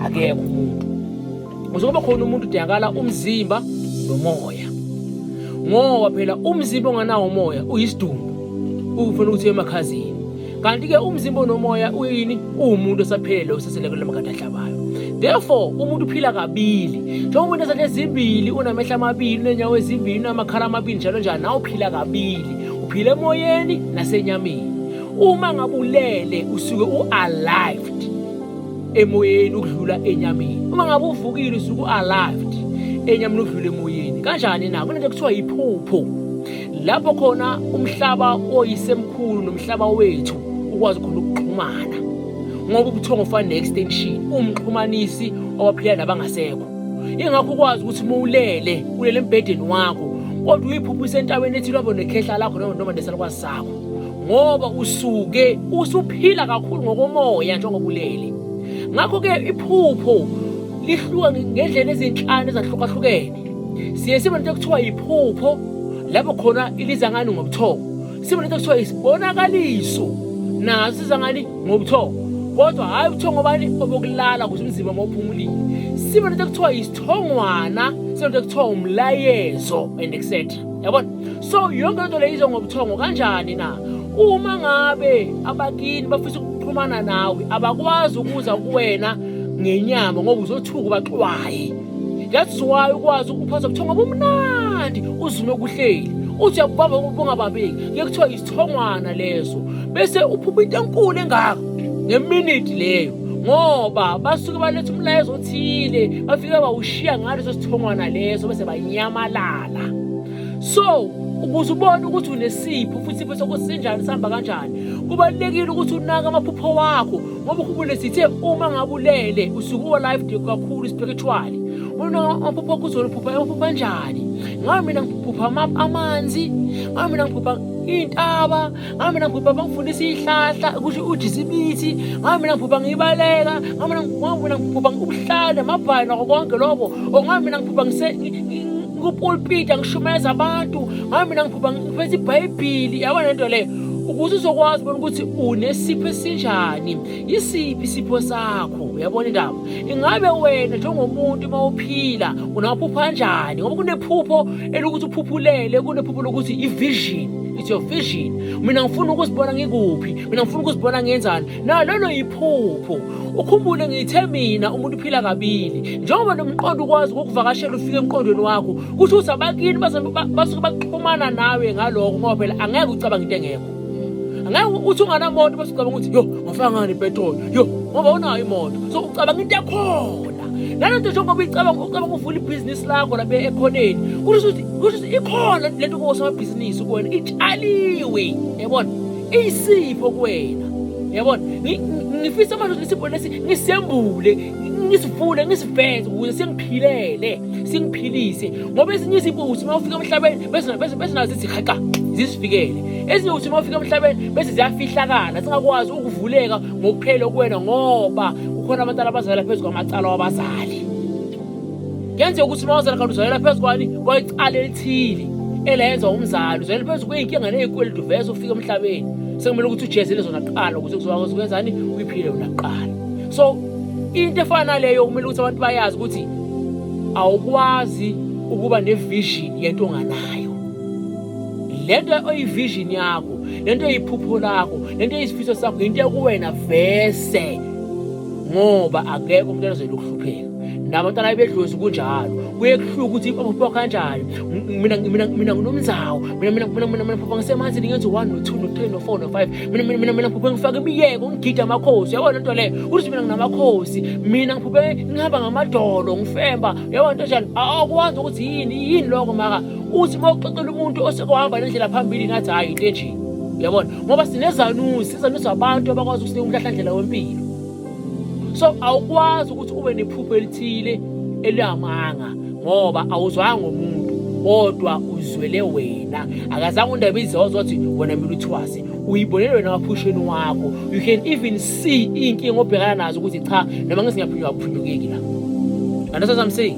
akekho umuntu ukuze kube khona umuntu udingakala umzimba nomoya ngoba phela umzimba onganawo umoya uyisidumbu ukufuna ukuthi emakhazini kanti-ke umzimba onomoya uyini uwumuntu osaphelele osesele kule makade ahlabayo therefore umuntu uphila kabili njengoba umuntu esathe ezimbili unamehla amabili unenyawo ezimbili unamakhala amabili njalo njalo nawe uphila kabili uphila emoyeni nasenyameni uma ngabulele usuke u-alived emoyeni ukudlula enyameni uma ngabe uvukile usuku alive enyameni ukudlula emoyeni kanjani na kunento kuthiwa yiphupho lapho khona umhlaba oyisemkhulu nomhlaba wethu ukwazi khona ukuxhumana ngoba ubuthongo ufana ne-extension umxhumanisi owaphila nabangasekho ingakho ukwazi ukuthi uma ulele ulele embhedeni wakho kodwa uyiphupha isentabeni ethi lwabo nekhehla lakho noma noma nesalukwazi sakho ngoba usuke usuphila kakhulu ngokomoya njengoba ulele ngakho-ke iphupho lihluka ngendlela ezinhlanu ezahlukahlukene siye sibe nento ekuthiwa yiphupho lapho khona iliza ngani ngobuthongo sibe nento ekuthiwa yisibonakaliso naso siza ngani ngobuthongo kodwa hhayi ubuthongo obani obokulala kuze umzimba mawuphumulile sibe nento ekuthiwa yisithongwana sibe nento ekuthiwa umlayezo and etc yabona so yonke lento leyizo ngobuthongo kanjani na uma ngabe abakini bafisa ukuxhumana nawe abakwazi ukuza kuwena ngenyama ngoba uzothuka ubaxwaye that's why ukwazi ukuphatha ubuthongo obumnandi uzume okuhleli uthi uyakubamba ubungabambeki kuye kuthiwa isithongwana leso bese uphupha into enkulu engako ngeminiti leyo ngoba basuke baletha umlayezo othile bafike bawushiya ngaleso sithongwana leso bese banyamalala la so ukuze ubone ukuthi unesipho futhi isipho sakho sinjani sihamba kanjani kubalulekile ukuthi unake amaphupho wakho ngoba ukhumbule sithe uma ngabulele usuke uwa-life kakhulu spiritually unaka amaphupho akho uzoliphupha amaphupho anjani ngabe mina ngiphupha amanzi ngabe mina ngiphupha iy'ntaba ngami mina ngibhubha bangifundisa ihlahla kusho ujisa imithi ngami mina ngibhubha ngibaleka ngami mina ngibhubha ubuhlale amabhayi nako konke lokho or ngami mina ngibhubha ngikupulpita ngishumayeza abantu ngami mina ngibhubha ngiphethe ibhayibhili yabona lento leyo ukuze uzokwazi bona ukuthi unesipho esinjani yisiphi isipho sakho uyabona indaba ingabe wena njengomuntu uma uphila unaphupha kanjani ngoba kunephupho elokuthi uphuphulele kunephupho lokuthi ivision is your vision mina ngifuna ukuzibona ngikuphi mina ngifuna ukuzibona ngenzani na lolo yiphupho ukhumbule ngithe mina umuntu uphila kabili njengoba nomqondo ukwazi ukukuvakashela ufike emqondweni wakho kusho ukuthi abakini basuke baxhumana nawe ngaloko ngoba phela angeke ucabange into engekho angeke uthi unganamoto basucabanga ukuthi yo ngafaka ngani ipetroli yo ngoba unayo imoto so ucabanga into yakhona nalento njengoba icabanga ucabanga uvula ibhizinisi lakho la ekhoneni kusho ukuthi kusho ukuthi ikhona lento kosomabhizinisi kuwena itshaliwe yabona iyisipho kuwena yabona ngifisa manje ukuthi isipho lesi ngisembule ngisivule ngisiveze ukuze singiphilele singiphilise ngoba ezinye izipho ukuthi uma ufika emhlabeni bese nazo zithi haqa zisifikele ezinye ukuthi uma ufika emhlabeni bese ziyafihlakala singakwazi ukuvuleka ngokuphele okuwena ngoba kukhona abantwana abazalela phezu kwamacala wabazali kuyenzeka ukuthi uma wazala kanti uzalela phezu kwani kwayicala elithile elayenza umzali uzalela phezu kweyinkinga neyikweleti uveze ufike emhlabeni sekumele ukuthi ujezele zona kuqala ukuze kuzokwazi ukwenzani uyiphile yona kuqala so into efana naleyo kumele ukuthi abantu bayazi ukuthi awukwazi ukuba nevision yento onganayo le nto oyivision yakho lento eyiphupho lakho lento eyisifiso sakho yinto ekuwena vese ngoba akekho umuntu anozela ukuhlupheka nabantwana bedlozi kunjalo kuye kuhluka ukuthi aphupha kanjani mina mina mina nginomzawo mina mina mina mina mina phupha ngisemanzini ngenza one no two no three no four no five mina mina mina mina phupha ngifake imiyeko ngigida amakhosi yabona into leyo ukuthi mina nginamakhosi mina ngiphuphe ngihamba ngamadolo ngifemba yabona into enjani awukwazi ukuthi yini yini lokho maka uthi uma uxoxela umuntu oseke wahamba nendlela phambili ngathi hhayi into enje yabona ngoba sinezanusi izanusi abantu abakwazi ukusinika umhlahlandlela wempilo so awukwazi ukuthi ube nephupho elithile elihamanga ngoba awuzwanga ngomuntu kodwa uzwele wena akazange undaba izozo wathi wena mina uthwase uyibonele wena waphusheni wakho you can even see iy'nkinga obhekana nazo ukuthi cha noma ngesingaphunywa akuphunyukeki la understand what i'm saying